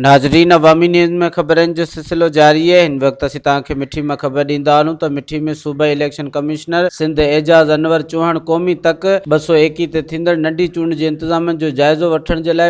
ناظرين عوامي نيوز ۾ خبرن جو سلسلو جاري آهي هن وقت اسين توهان کي مٺي مان خبر ڏيندا هلون ته مٺي ۾ صوبائي اليڪشن ڪمشنر سنڌ اعجاز انور چوهاڻ قومي تڪ ٻه سؤ ايڪيهه تي ٿيندڙ ننڍي چونڊ جي انتظامن جو جائزو وٺڻ جي لاء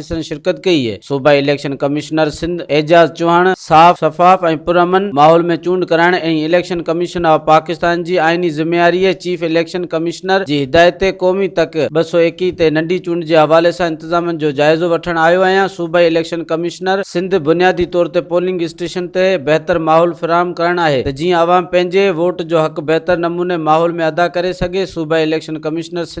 جلسن شرڪت ڪئي، صوبائي اليڪشن ڪمشنر سنڌ اعجاز چوهاڻ صاف، شفاف ۽ پرامن ماحول ۾ چونڊ ڪرائڻ ۽ اليڪشن ڪميشن آف پاڪستان جي آئيني ذميواري چيف اليڪشن ڪمشنر جي هدايت تي قومي تڪ ٻه سؤ ايڪيهه تي ننڍي چونڊ جي حوالي سان انتظامن جو جائزو وٺڻ آيو آهيان، صوبائي اليڪشن ڪمشنر سنڌ بنيادي طور تي پولنگ اسٽيشن تي بهتر ماحول فراهم ڪرڻ آهي ته جيئن عوام پنهنجي ووٽ جو حق بهتر نموني ماحول ۾ ادا ڪري سگهي، صوبائي اليڪشن ڪمشنر سنڌ.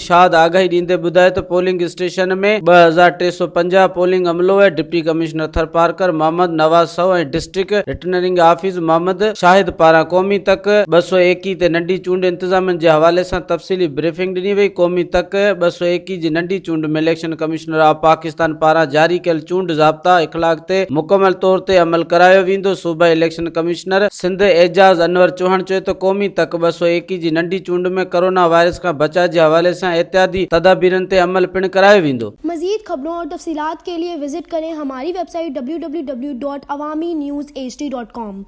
شاد آگاهي ڏيندي ٻڌائي ته پولنگ اسٽيشن ۾ ٻه هزار ٽي سؤ پنجاهه پولنگ عملو ۽ ڊپٽي ڪمشنر ٿرپارڪر محمد نواز سو ۽ district returning office Muhammad Shahid پاران قومي تڪ ٻه سؤ ايڪيهه تي ننڍي چونڊ انتظامين جي حوالي سان تفصيلي بريفنگ ڏني وئي قومي تڪ ٻه سؤ ايڪيهه جي ننڍي چونڊ ۾ اليڪشن ڪمشنر آف پاڪستان پاران جاري ڪيل چونڊ ضابطا اخلاق تي مڪمل طور تي عمل ڪرايو ويندو صوبائي اليڪشن ڪمشنر سنڌ اعجاز انور چوهاڻ چيو ته قومي تڪ ٻه سؤ ايڪيهه جي ننڍي چونڊ ۾ ڪورونا وائرس کان بچاء جي حوالي سان احتياطي تدابيرن تي عمل پڻ ڪرايو ويندو. مزيد خبرون اور تفصيلات کے ليے وزٽ ڪرين ھماري ويب سائيٽ www.awaminews hd.com.